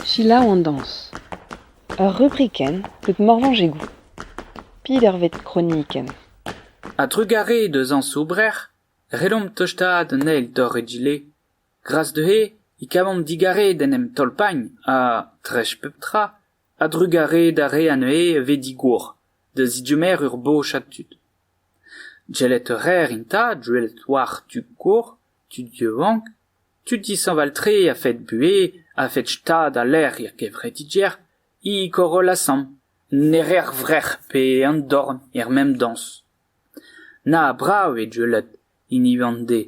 Selaou an dañs. Ur rubrikenn deut Morvañj e goût. Pidervet kronikenn. A-drugarez deus añs Oubrec'h, ret omp tostaat an eil torr egile Gras dezhe e kavan digarez d'en em tolpagn ha, dreist pep tra, a-drugarez d'ar re anezhe a vez digor, da zidummer ur bochad tud. Gellet a raer int gwelet war tud gor, tud yaouank, tud dishañval-tre a-fed buhez, a-fed stad ha lec'h er gevredigezh, e Koroll Asant, ne reer vrec'h pe an dorn er mem dañs. Na brav eo gwelet hini Vande.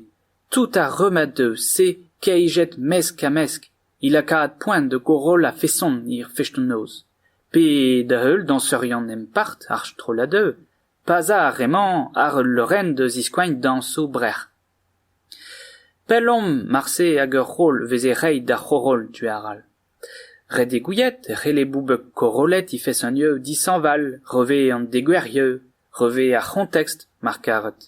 Tout ar rummad eus se keijet mesk-ha-mesk e lakaat poent da goroll a-feson hir fest an noz. Pe da-heul dañserion empart ar strollad eu. Pa'z a ar re-mañ àr ul leurenn da ziskoañ dañsoù brec'h. Pell omp marse hag ur roll veze reiñ d'ar c'horoll tu arall. Ret eo gouiet e c'helle boubek korollet he fesanieu dishañval re vez an degouezhieu, re vez ar c'hontekst mar karet.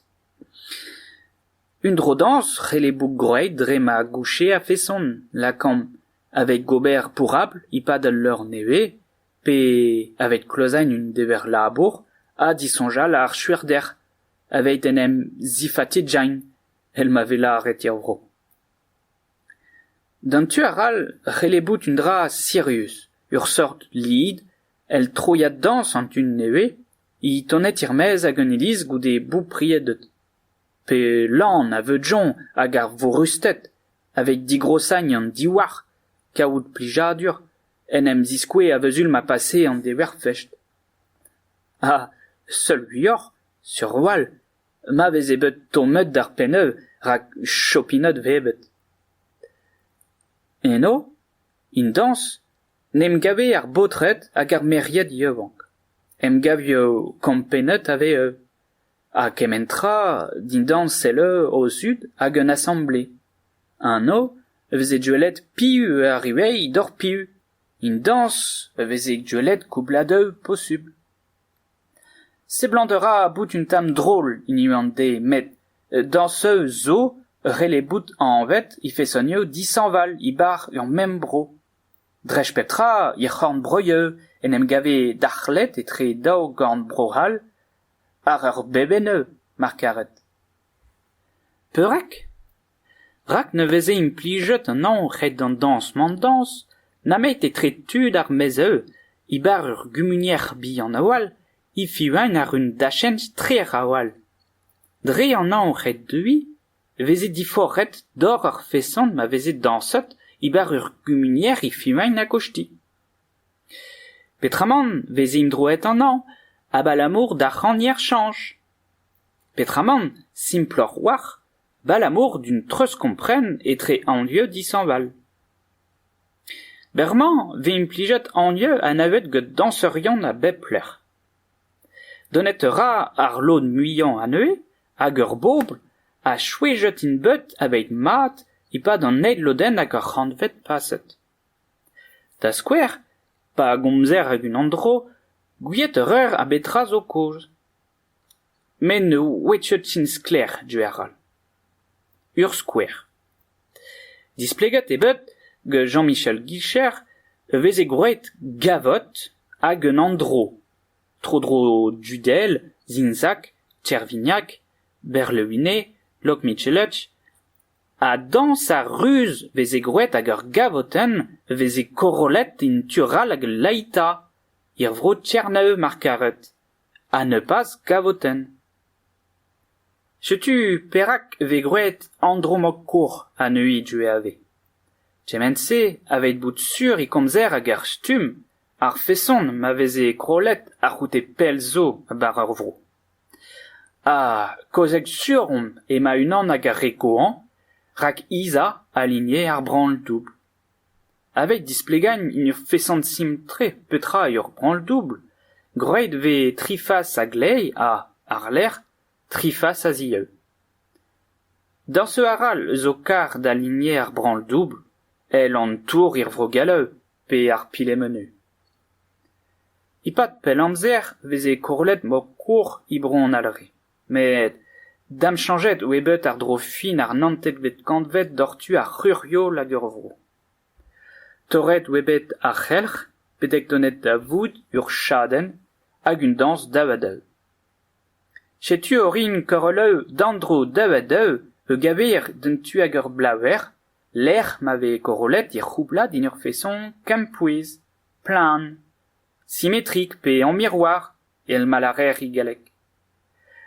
Un dro-dañs c'helle bout gwraet dre ma gouche a-feson lakaomp aveit gober pourrapl e-pad al leur nevez pe aveit klozañ un dever-labour ha disoñjal ar chuerder aveit en em zifatijañ èl ma vez lâret er vro. D'an tu arall c'helle bout un dra sirius, ur seurt lid èl troiad dañs an tu nevez. He toned er-maez ag an iliz goude bourb priedet. Pe lan a veudjont ag ar vorusted aveit digrossagn an divhar kavout plijadur en em ziskouez a-vezul ma pase an deverfest. Ha seul muioc'h, sur a-walc'h, ma veze bet tommet d'ar penneu rak chopinot vebet. Eno, en dañs, 'n em gave ar baotred hag ar merc'hed yaouank, 'n em gavio kampennet a vez eu. ha kement tra dindan sell o zud hag un asamble. Anv a veze gwelet piv arri reiñ doc'h piv, un dañs a veze gwelet koubladeu posubl. Seblant a ra bout un tamm drol hini an dez met dañseu zo ret eo bout anvet he fesonioù dishañval e-barzh ur mem bro. Dreist pep tra, er c'horn-breudeur en em gave darc'hlet etre daou gorn Bro-C'hall àr ur bebenn-eur, mar karet. Perak ? Rak ne veze implijet an anv ret d'an dañs-mañ-dañs nemet etre tud ar maez-eur, e-bar ur gumunier bihan a-walc'h, e-fiñv-eñ àr un dachenn ster a-walc'h. Dre an anv ret deuiñ e veze diforc'het dor ar feson ma veze dañset e-bar ur gumunier e Fimain ha Koshti. Petramant 'veze imdroet annañ abalamour d'ar c'hagner chañch. Petramant simploc'h-walc'h 'balamour d'un treuzkompren etre anvioù dishañval. Berr-mañ 'vez implijet anvioù anavet gant dañseurion a bep lec'h. Donet a ra ar lod muiañ anezhe hag ur bobl a souezhet int bet aveit mat e-pad an eil lodenn hag ar c'hantved paset. Da skouer, pa gomzer hag unan dro, gouiet a reer a betra zo kaoz. Met ne ouechet int sklaer, diouer all. Ur skouer. Displeget eo bet gant Jean-Michel Guilcher e veze gwraet gavot hag un andro tro-dro Dudel, Zinzak, Tervignac, Berlewine, Loch-Mitchellach ha dañs ha ruz veze gwraet hag ur gavotenn veze korollet en tu arall ag Laita, er vro Tchernav mar karet, ha nebeuzh gavotenn. Setu perak e vez gwraet Andromakour anezhi Duave. Kement-se a veit bout sur e komzer ag ar stumm, ar feson ma veze krollet a-c'houde pell zo bar ar vro. Ha kaozeal sur omp ema unan ag ar re gozhañ, rak Iza a ligne ar branl-doubl. Aveit displegañ int ur feson simpl-tre petra eo ur branl-doubl, gwraet vez tri fas a-gleiz ha, àr-lerc'h, tri fas a-zieu. D'ur seurt arall eus ho kar da linier ar branl-doubl, èl an tour er vro gallaou pe ar Pilemenu. E-pad pell amzer 'veze korollet moc'h-kour e bro an Alre. Met damchañjet eo bet àr-dro fin ar naontekvet kantved doc'h tu ar c'hurioù hag er vro. Torret eo bet ar c'helc'h betek donet da vout ur chadenn hag un dañs daou-ha-daou. Setu orin Koroleu d'an-dro daou-ha-daou a-geñver d'an tu ag ur blaver lec'h ma vez korollet he c'houblad en ur feson kempouez, plan. simetrik pe en miroir èl ma lârer e galleg.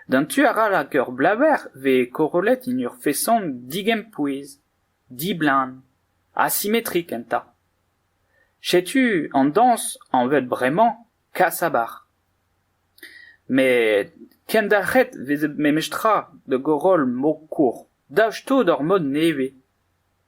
D'an tu arall ag ur blaver vez korollet en ur feson digempouez, diblaen, asimetrik enta. Setu an dañs anvet bremañ kasabar. Met kendalc'het vezet memestra da goroll mokour daoust-to d'ur mod nevez.